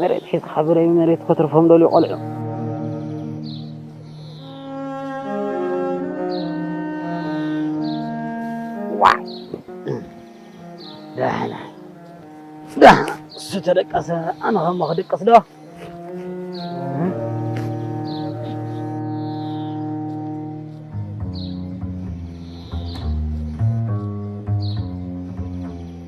መሬት ሒዝኻ ብረይ ብመሬት ከትርፎም ደልዩ ቆልዑ። ዳሕና ዳሕና እሱ ተደቀሰ ኣነ ከሞ ክድቅስ ዶ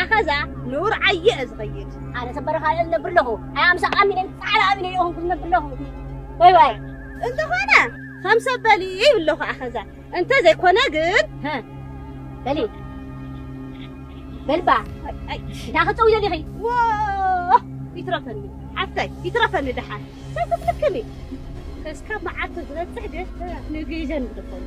ኣኸዛ ንውር ዓየ እየ ዝኸይድ ኣነ ሰብ በረኻ እየ ዝነብር ኣለኹ ኣይ ኣምሳ ኣሚነይ ፃዕዳ ኣሚነይ እየ ኹንኩ ዝነብር ኣለኹ ወይ ወይ እንተኾነ ከም ሰብ በሊ ይብለኹ ኣኸዛ እንተ ዘይኮነ ግን በሊ በልባ እንታ ክፀው ዘሊኺ ይትረፈኒ ሓፍተይ ይትረፈኒ ድሓን ሰብ ክትልክሚ እስካብ መዓልቱ ዝበፅሕ ግን ንግዘን ዝደፈሉ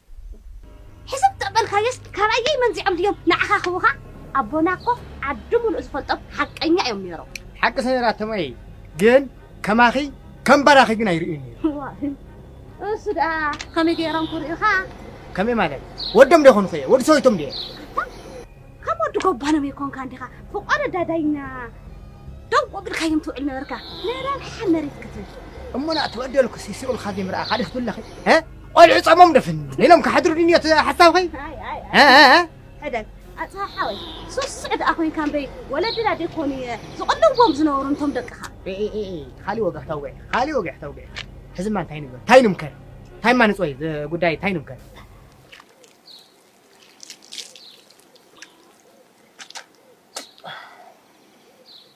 ሕስብ ተበልካዮስ ካባየይ መንዚዖም ድዮም ንዓኻኽቡኻ ኣቦና እኮ ዓዲ ሙሉእ ዝፈልጦም ሓቀኛ እዮም ነይሮም። ሓቂ ሰሚራቶም እይ ግን ከማኺ ከም ባራኺ ግን ኣይርእዩን እዩ ዋይ እሱ ደኣ ከመይ ገይሮም ክርእዩኻ ከመይ ማለት ወዶም ዶ ኮንኹ እየ ወዲ ሰወይቶም ድየ ከም ወዲ ጎባኖም ይኮንካ እንዲኻ ፍቆረ ዳዳይና ደንቆ ብልካዮም ትውዕል ነበርካ ንረብሓ መሬት ክትብል እሞና ተበደልኩ ሲሲቁልካ ዘይምርኣ ካልእ ክትብለኺ ቆልዑ ጸሞም ደፍን ኢሎም ክሓድሩ ድንዮ ሓሳብኸይ ሕደግ ኣጽሃ ሓወይ ሱስዕ ደኣ ኮይንካ እምበይ ወለድና ደይኮኑ ዝቕልዎም ዝነበሩ እንቶም ደቅኻ ካሊእ ወግዒ ክተውግዒ ካሊእ ወግዒ ክተውግዒ ሕዝማ እንታይ ንግበር እንታይ ንምከር እንታይ እማ ንፅወይ ጉዳይ እንታይ ንምከር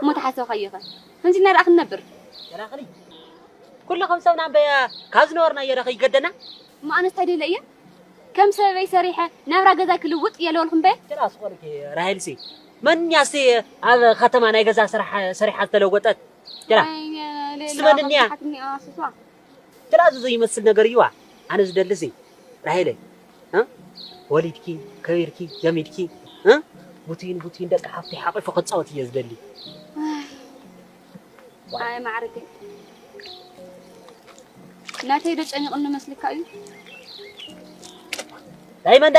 እሞ ተሓሰብካዮኸ ከምዚ እናረኣኽ ክንነብር? ሄራቕሊ ኩሉ ከም ሰብና እምበይ ካብ ዝነበርናዮዶ ከይገደና? እሞ ኣነስ እንታይ ደለ እየ ከም ሰበበይ ሰሪሐ ናብራ ገዛይ ክልውጥ የለወልኹ እምበይ? ጭራ ስቆልኪ ራሄልሲ መን እያ እስቲ ኣብ ኸተማ ናይ ገዛ ስራሕ ሰሪሓ ዝተለወጠት? ጭራ እስቲ መን እኒኣ? ገለ ኣዞዞ ይመስል ነገር እዩዋ ኣነ ዝደልሲ ራሄለይ እ ወሊድኪ ከቢርኪ ገሚድኪ እ ቡቱይን ቡቱይን ደቂ ሓፍተይ ሓቂፉ ክጻወት እየ ዝደሊ ኣይ ማዕርገይ ናተይ ዶ ጨኒቕኒ መስልካ እዩ ዳይመንዳ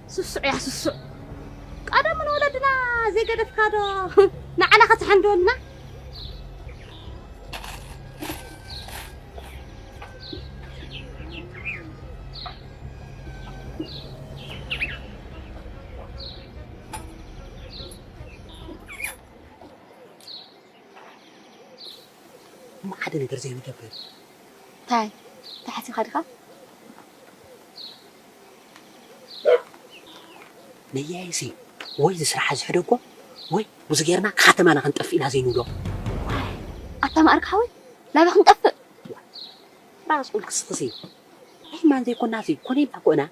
ስሱዕ እያ ስሱዕ ቀደሙ ንወለድና ዘይገደፍካ ዶ ንዓና ከተሐንደወልና ሓደ ነገር ዘይንገብር እንታይ ተሓሲኻ ድኻ ነያይሲ ወይ ዝስራሓ ዝሕደጎ ወይ ብዙ ጌርና ክሓተማና ክንጠፍእ ኢና ዘይንብሎ። ኣታ መኣርግ ሓወይ ናበይ ክንጠፍእ። ራስ ቁል ክስኽሲ ዒማን ዘይኮናሲ ኮነ ኢልና እኮ ኢና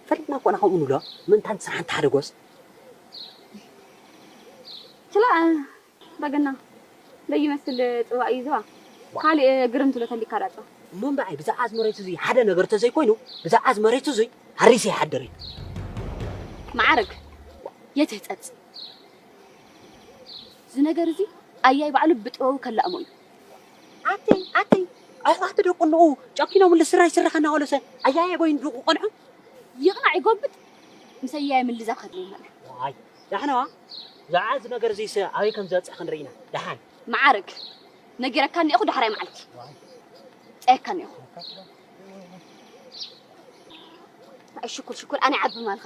ፈሊጥና እኮ ኢና ከምኡ ንብሎ ምእንታን ስራሓ እንተሓደጎስ። ክላእ በገና ለይ ይመስል ጽዋእ እዩ ዝባ ካልእ ግርም ትብሎ ተሊካ ዳጽባ። እሞ እምበኣይ ብዛዕባ'ዚ መሬት እዙይ ሓደ ነገር ተዘይኮይኑ ብዛዕባ'ዚ መሬት እዙይ ሃሪሰ ይሓድር እየ። መዓርግ የትህጸጽ እዚ ነገር እዚ ኣያይ ባዕሉ ብጥበቡ ከላእሞ እዩ። ኣተይ ኣተይ ኣሕዋት ደቁ እንኦ ጨኪኖምሉ ስረ ይስራሕ እናበሉሰ ኣያየ በይኑ ድኡ ክቐንዖም ይቕናዕ ይጎብጥ ምስ ኣያየ ምልዛብ ከድልየና እዩ። ዋይ ዳሕናዋ ብዛዕባ እዚ ነገር እዚስ ኣበይ ከም ዝበጽሕ ክንርኢ ኢና። ደሓን መዓርግ ነጊረካ እኒኤኹ ዳሕራይ መዓልቲ ጸየካ እኒኤኹ ሽኩር ሽኩር ኣነ ዓቢ ማልኸ